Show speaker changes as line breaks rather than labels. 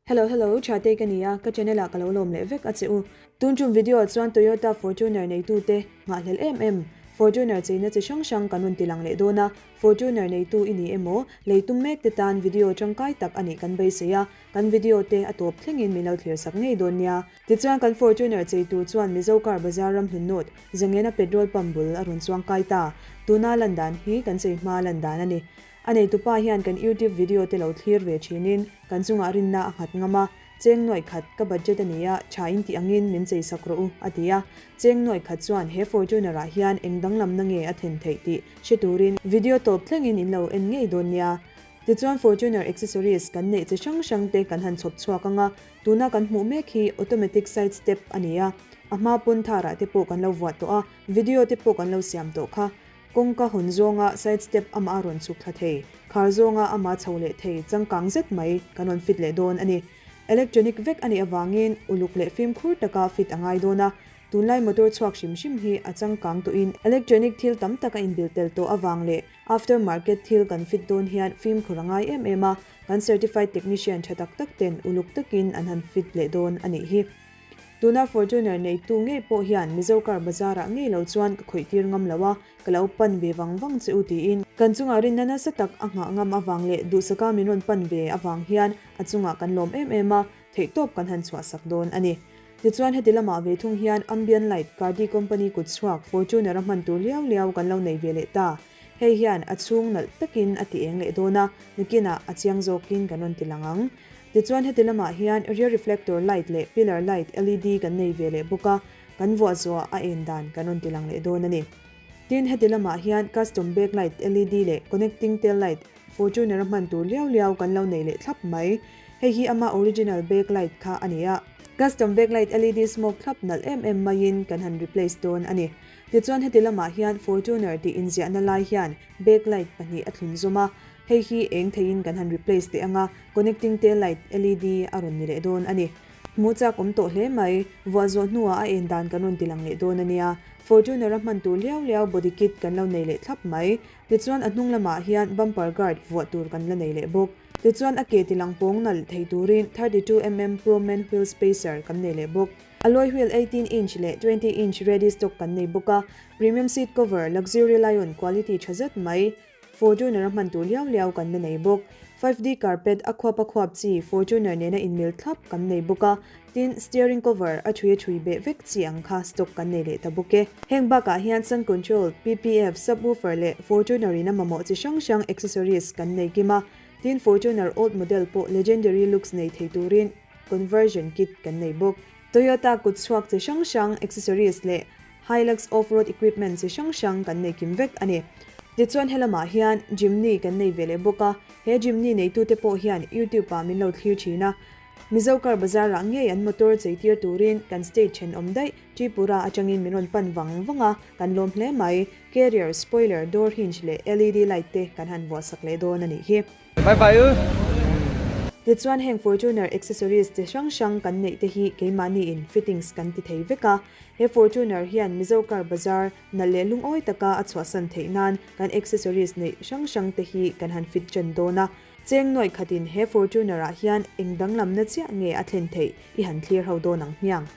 Hello hello, Tha Tei ka ni a, ka channel ah ka lo lawm leh vek a che u. Tun chung video ah chuan Toyota Fortuner neitu te nghahhlel em em? Fortuner cheina chi hrang hrang kan rawn ti lang leh dawn a, Fortuner neitu i ni emaw? Lei tum mek te tan video tangkai tak anih kan beisei a, kan video te a tawp thlengin min lo thlir sak ngei dawn nia. Tichuan kan Fortuner chei tur chuan Mizo Car Bazar ram Hnunnawt Zengena Petrol Pump bul a rawn chuang kai ta. Tuna lan dan hi kan chei hma lan dan a ni. A neitu pa hian kan YouTube video te lo thlir ve thinin kan chungah rinna a nghat ngam a, Cheng nuaih khat, ka budget a ni a, tha in tih angin min chei sak rawh u, a ti a. Cheng nuaih khat chuan he Fortuner ah hian eng danglamna nge a thlen theih tih hre turin video tawp thlengin in lo en ngei dawn nia. Tichuan Fortuner accessories kan neih che hrang hrang te kan han chhawp chhuak anga tuna kan hmuh mek hi automatic side step a ni a, a hma pawn tharah te pawh kan lo vuah tawh a, video te pawh kan lo siam tawh kha. Kawngka hawn zawnga side step amah a rawn chhuk thla thei, khar zawnga ama chho leh thei changkang zet mai kan rawn fit leh dawn a ni. Electronic vek a nih avangin uluk leh fimkhur taka fit a ngai dawn a, tunlai motor chhuak hrim hrim hi a changkang tuin electronic thil tam tak a inbil tel tawh avang leh after market thil kan fit dawn hian fimkhur a ngai em em a, kan certified technician tha tak tak ten uluk takin an han fit leh dawn a nih hi. Tuna Fortuner neitu ngei pawh hian Mizo car bazar-ah ngei lo chuan ka khawih tir ngam lo a, ka lo pan ve vang vang che u tiin kan chungah rinna nasa tak a nghah ngam avang leh duhsaka min rawn pan ve avang hian a chungah kan lawm em em a, theih tawp kan han chhuahsak dawn a ni. Tichuan heti lamah ve thung hian Ambient Light Cardi Company kut chhuak Fortuner a hman tur liau liau kan lo nei ve leh ta. Hei hian a chhung nalh takin a ti eng leh dawn a, nukinah a chiang zawkin kan rawn ti lang ang. Tichuan heti lamah hian rear reflector light leh pillar light LED kan nei ve leh bawk a, kan vuah zuah a en dan kan rawn ti lang leh dawn a ni. Tin, heti lamah hian custom backlight LED leh connecting tail light Fortuner a hman tur liau liau kan lo nei leh thlap mai. Hei hi ama original backlight kha a ni a. Custom backlight LED smoke thlap nalh em em maiin kan han replace dawn a ni. Tichuan heti lamah hian Fortuner tih inziahna lai hian backlight pahnih a thlun zawm a, hei hi eng theihin kan han replace teh ang a, Connecting te light LED a rawn ni leh dawn a ni. Hmu chak awm tawh hle mai. Vuah zawh hnuah a en dan kan rawn ti lang leh dawn a nia. Fortuner a hman tur liau liau body kit kan lo nei leh thlap mai. Tichuan a hnung lamah hian bumper guard vuah tur kan la nei leh bawk. Tichuan a ke ti lang pawng nalh thei turin thirty two mm Pro Men Wheel Spacer kan nei leh bawk. Alloy wheel eighteen inch leh twenty inch ready stock kan nei bawk a. Premium seat cover, luxury lion quality tha zet mai. Fortuner a hman tur liau liau kan la nei bawk. Five D carpet a khuap a khuap chi Fortuner nen a inmil thlap kan nei bawk a, tin, steering cover a thui a thui beh vek chi ang kha stock kan nei leh ta bawk e. Heng bakah hian sound control, PPF, subwoofer leh Fortuner in a mamawh chi hrang hrang accessories kan nei kim a, tin, Fortuner old model pawh legendary looks nei thei turin conversion kit kan nei bawk. Toyota kut chhuak chi hrang hrang accessories leh Hilux off-road equipment chi hrang hrang kan nei kim vek a ni. Tichuan helamah hian Jimny kan nei ve leh bawk a, he Jimny neitute pawh hian YouTube ah min lo thlir thin a. Mizo car bazar ah ngei an motor chei tir turin kan state then awm daih Tripura atangin min rawn pan vang vang a, kan lawm hle mai. Carrier, spoiler, door hinge leh LED light te kan han vuahsak leh dawn a nih hi. Bye bye u. Tichuan heng Fortuner accessories chi hrang hrang kan neih te hi keimahni in fittings kan ti thei vek a. He Fortuner hian Mizo car bazar nalh leh lungawi taka a chhuahsan theih nan kan accessories neih hrang hrang te hi kan han fit chen dawn a. Cheng nuai khatin he Fortuner ah hian eng danglamna chiah nge a thlen theih i han thlir ho dawn ang hmiang.